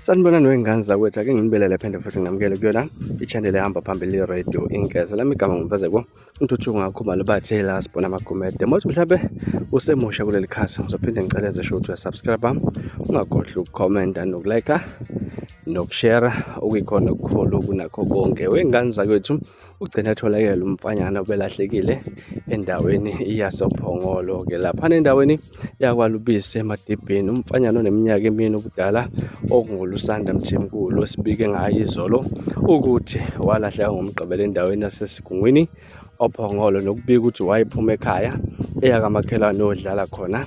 sanibonani wey'ngane zakwethu ake nginibelele phende futhi nginamukele kuyona i-channel ehamba phambili i-radio inkeza lami igama ngumfezeko intuthu ngakho mali bathe la sibona amagumede mothi mhlawumbe usemusha kuleli khasi ngizophinde ngicela ezesho ukuthi uyasubscribe ungakhohlwa ukukhomenta nokulike nokushera okuyikhona okukhulu kunakho konke wey'ngane zakwethu ugcine etholakele umfanyana obelahlekile endaweni yasophongolo-ke lapha nendaweni yakwalubisi emadibhini umfanyana oneminyaka emini ubudala okungulusanda mthimkulu osibike ngayo izolo ukuthi walahleka ngomgqibelo endaweni yasesigungwini ophongolo nokubika ukuthi wayephuma ekhaya eyakamakhelwane odlala khona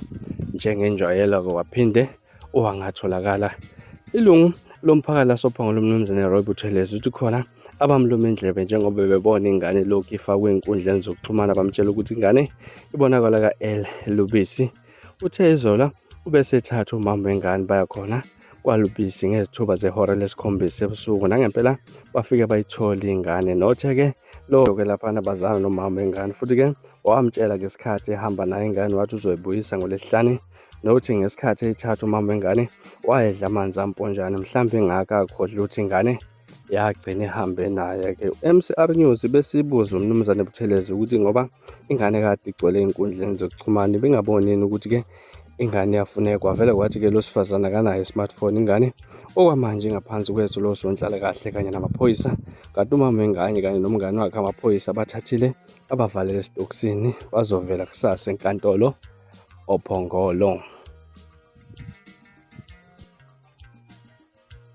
njengenjwayelo ke waphinde owangatholakala ilungu lomphakathi lasophongolo umnumzane roy buthelezi uthi khona abamluma indlebe njengoba bebona ingane lokhu ifakwe enkundleni zokuxhumana bamtshela ukuthi ingane ibonakala ka-l lubisi uthe izola ubesethatha umama wengane baya khona kwalubisi ngezithuba zehora lesikhombisa ebusuku nangempela bafike bayithole ingane nothe-ke lowo-ke laphana bazana nomama wengane futhi-ke wamtshela ngesikhathi ehamba nayo ingane wathi uzoyibuyisa ngolesihlane nokuthi ngesikhathi eyithatha umama wengane wayedla amanzi amponjane mhlawumbe engaka akhohlwa ukuthi ingane yagcina ihambe naye-ke u-mcr news besibuza umnumzane buthelezi ukuthi ngoba ingane kade igcwele ey'nkundleni zokuxhumana bengabonini ukuthi-ke ingane yafunekwa vele kwathi-ke lo sifazane akanayo i-smartphone ingane okwamanje ingaphansi kwethu lo sonhlalakahle kanye namaphoyisa kanti umama wengane kanye nomngane wakhe amaphoyisa bathathile abavalele esitokisini bazovela kusasa enkantolo ophongolo